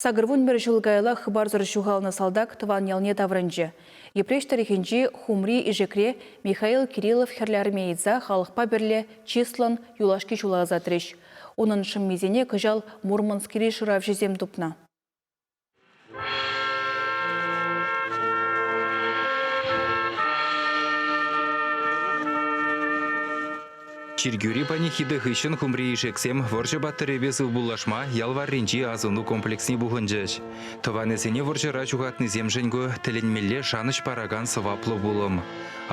Сакӑрвун пӗр ҫул каялах хыпарсӑр ҫухалнӑ салтак тӑван ялне таврӑнчӗ. Йӗпреҫ тӑрӑхӗнчи Хумри Ишекре Михаил Кириллов хӗрлӗармееца халӑхпа пӗрле чыслӑн юлашки ҫула ӑсатрӗҫ. Унӑн шӑммисене кӑҫал Мурманскри шыравҫӑсем тупнӑ. Чиркӳри панихида хыҫҫӑн хумри ишексем вӑрҫӑ паттӑрӗпе сывпуллашма ял варринчи асӑну комплексне пухӑнчӗҫ. Тӑванӗсене вӑрҫӑра ҫухатнисемшӗн ку тӗлӗнмелле шанӑҫ паракан сӑваплӑ пулӑм.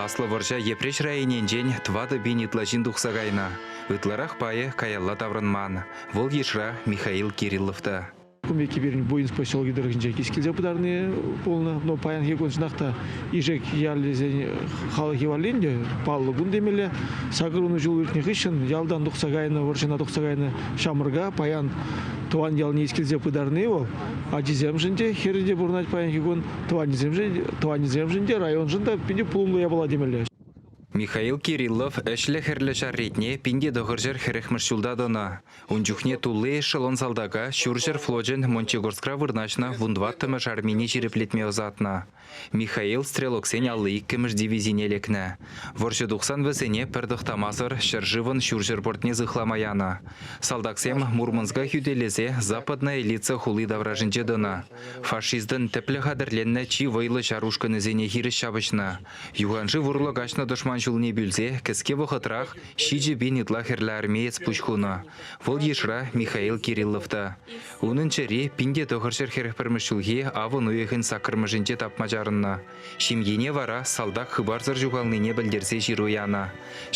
Аслӑ вӑрҫа Йӗпреҫ районӗнчен тӑватӑ пин ытла ҫын тухса кайнӑ. Ытларах пайӗ каялла таврӑнман. Вӑл йышра Михаил Кириллов та. Кумеки пирӗн Буинск поселокӗ тӑрӑхӗнче килсе пытарни пулнӑ. Но паянхи куншӑнах та Ишек ялӗсен халӑхӗ валли ӗнтӗ паллӑ кун темелле. Сакӑр ун ҫул иртнӗ хыҫҫӑн ялтан тухса кайнӑ, вӑрҫӑна тухса кайнӑ ҫамрӑка паян тӑван ялне килсе пытарни вӑл ачисемшӗн те, хӗрӗ те пурӑнать паянхи кун, тӑванӗсемшӗн, тӑванӗсемшӗн те, районшӑн та питӗ пулӑмлӑ япала темелле. Михаил Кириллов ӗҫлӗ-хӗрлӗ ҫар ретне пин те тӑхӑрҫӗр хӗрӗхмӗш ҫулта тӑнӑ. Ун чухне тулли эшелон салтака ҫурҫӗр флочӗн Мончегорскра вырнаҫнӑ вунтӑваттӑмӗш армине ҫирӗплетме ӑсатнӑ. Михаил стрелоксен алли иккӗмӗш дивизине лекнӗ. Вӑрҫӑ тухсан вӗсене пӗр тӑхтамасӑр ҫӗршывӑн ҫурҫӗр портне сыхлама янӑ. Салтаксем Мурманска хӳтӗлесе Западная Элица хули таврашӗнче тӑнӑ. Фашистӑн тӗплӗ хатӗрленнӗ чи вӑйлӑ ҫар ушкӑнӗсене хирӗҫ ҫапӑҫнӑ. Юханшыв урлӑ каҫнӑ тӑшман ҫулне пӳлсе кӗске вӑхӑтрах ҫичӗ пин ытла хӗрлӗ армеец пуҫ хунӑ. Вӑл йышра Михаил Кириллов та. Унӑн чӗри пин те тӑхӑрҫӗр хӗрӗх пӗрмӗш ҫулхи авӑн уйӑхӗн саккӑрмӗшӗнче тапма чарӑннӑ. Ҫемьене вара салтак хыпарсӑр ҫухалнине пӗлтерсе ҫыру янӑ.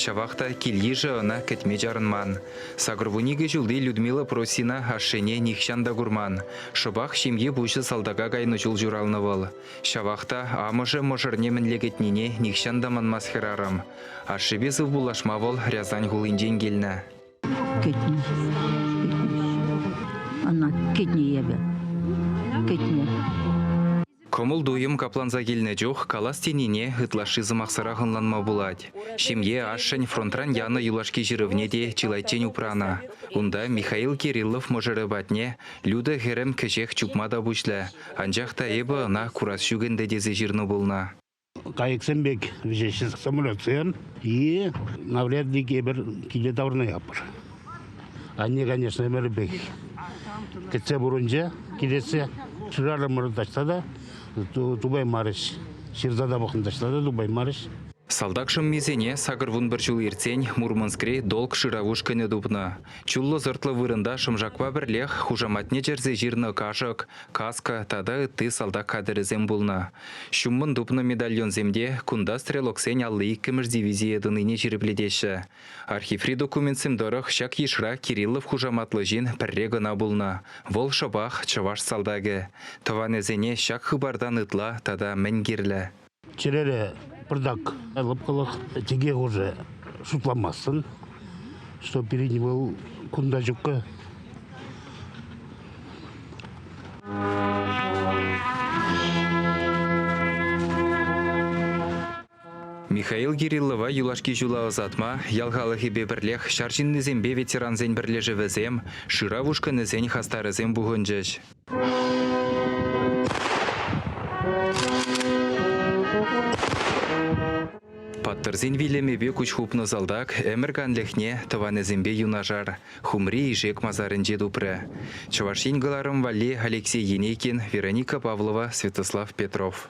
Ҫавах та кил-йышӗ ӑна кӗтме чарӑнман. Сакӑрвуникӗ ҫулти Людмила Просина ашшӗне нихҫан та курман. Шӑпах ҫемье пуҫӗ салтака кайнӑ чул ҫуралнӑ вӑл. Ҫавах та амӑшӗ мӑшӑрне мӗнле кӗтнине нихҫан та манмасть хӗрарӑм. Ашшӗпе сывпуллашма вӑл Рязань хулинчен килнӗ. Кӗтнӗ. Ӑна кӗтнӗ эпӗ. Кӗтнӗ. Кӑмӑл-туйӑм капланса килнӗ чух калас тенине ытлашши сӑмахсӑрах ӑнланма пулать. Ҫемье ашшӗн фронтран янӑ юлашки ҫырӑвне те чылайччен упранӑ. Унта Михаил Кириллов мӑшӑрӗ патне Люда хӗрӗм кӗҫех чупма та пуҫлӗ. Анчах та эпӗ ӑна курас ҫук ӗнтӗ тесе ҫырнӑ пулнӑ. Кайӑксем пек вӗҫеҫҫӗ самолетсем. И навряд ли тепӗр киле таврӑна ятпӑр. Анне, конечно, ӗмӗрӗпех кӗтсе пурӑнчӗ, килессе шырарӑмӑр таҫта та тупаймарӗҫ. Ҫырса та пӑхӑнтаҫла та тупаймарӗҫ. Салтак шӑммисене сакӑр вун пӗр ҫул иртсен Мурманскри долг шырав ушкӑнӗ тупнӑ. Чуллӑ-сӑртлӑ вырӑнта шӑмшакпа пӗрлех хушаматне чӗрсе ҫырнӑ кашӑк, каска тата ытти салтак хатӗрӗсем пулнӑ. Ҫуммӑн тупнӑ медальонсем те кунта стрелоксен алли иккӗмӗш дивизие тӑнине ҫирӗплетеҫҫӗ. Архиври документсем тӑрӑх ҫак йышра Кириллов хушаматлӑ ҫын пӗрре кӑна пулнӑ, вӑл шӑпах чӑваш салтакӗ. Тӑванӗсене ҫак хыпартан ытла тата мӗн кирлӗ? Чӗрере пӑртак лӑпкӑлӑх, тӗке хушӑ шутламастӑн, что передний вал кунта ҫуккӑ. Михаил Кириллова юлашки ҫула ӑсатма ял халӑхӗпе пӗрлех ҫар ҫыннисемпе ветерансен пӗрлешӗвӗсем, шырав ушкӑнӗсен хастарӗсем пухӑнчӗҫ. Паттӑрсен вилӗмӗпе куҫ хупнӑ салтак ӗмӗр канлӗхне тӑванӗсемпе юнашар, Хумри Ишек масарӗнче тупрӗ. Чӑваш Ен кӑларӑм валли Алексей Енейкин, Вероника Павлова, Святослав Петров.